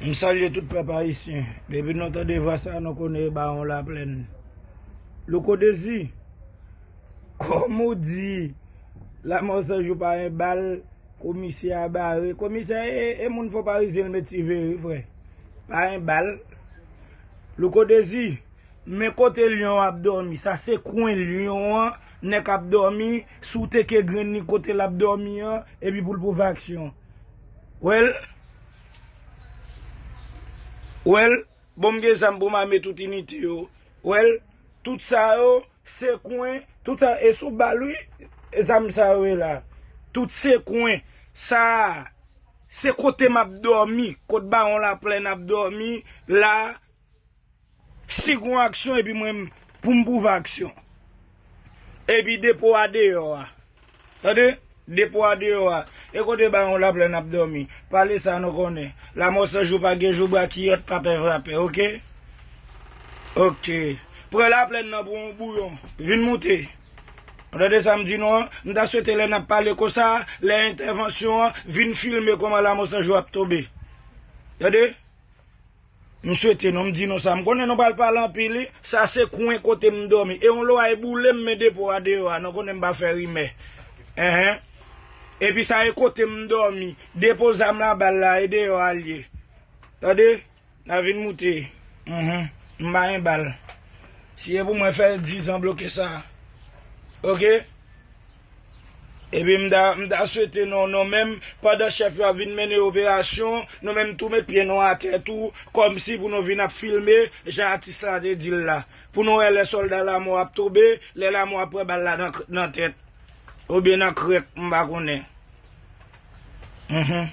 M salye tout pèp ayisyen. Depi nou tande vwa sa nou konnen e bawon laplèn. Louko Dezi, kòm ou di lanmò san jou pa yon bal, komisè a bare. Komisè e moun fò parizyen l met siveye wi frè. Pa yon bal. Louko Dezi, men kote lyon an ap dòmi. Sa se kwen lyon an nèk ap dòmi, si w teke grenn li kote l ap dòmi an epi pou l pwouve aksyon. Well Well Bon m gen zam pou m ame tout inite yo Well Tout sa yo se kwen Tout sa e sou bal wi zam sa yo ye la Tout se kwen Sa a se kote m ap dòmi Kot bawon laplèn ap dòmi la Si gon aksyon epi mwen pou m pwouve aksyon. Epi depo a deyò a. Tande, depo a deyò a. E kote bawon Laplèn ap dòmi? Pale sa nou konnen. Lamò san jou pa gen jou brakiyòt pa pè vrapè ok. Ok. Pran Laplèn nan pou yon bouyon. Vin moute. Ou tande sa m di nou an? M ta swete lè n ap pale konsa, lè entèvansyon an, vin filme kòman Lamò san jou ap tonbe. Tande? M swete non m di nou sa. M konnen nou pral pale anpil wi. Sa se kwen kote m dòmi. E yon loray boule m men depo a deyò a. Nou konnen m pa fè rimè. Enhen. Epi sa e kote m dòmi. Depo zam la bal la e deyò a l ye. Tande. N a vin moute. Enhen. M pa gen bal. Si e pou mwen fè 10 an bloke sa. Ok. Epi m ta m ta swete nou nou menm pandan chèf yo ap vin mennen operasyon nou menm tou met pye nou atè tou kòmsi pou nou vin ap filme jan atis la te di l la pou nou wè lè sòlda lamò ap tonbe lè lamò ap pran bal la nan nan tèt oubyen nan krèk m pa konnen humm.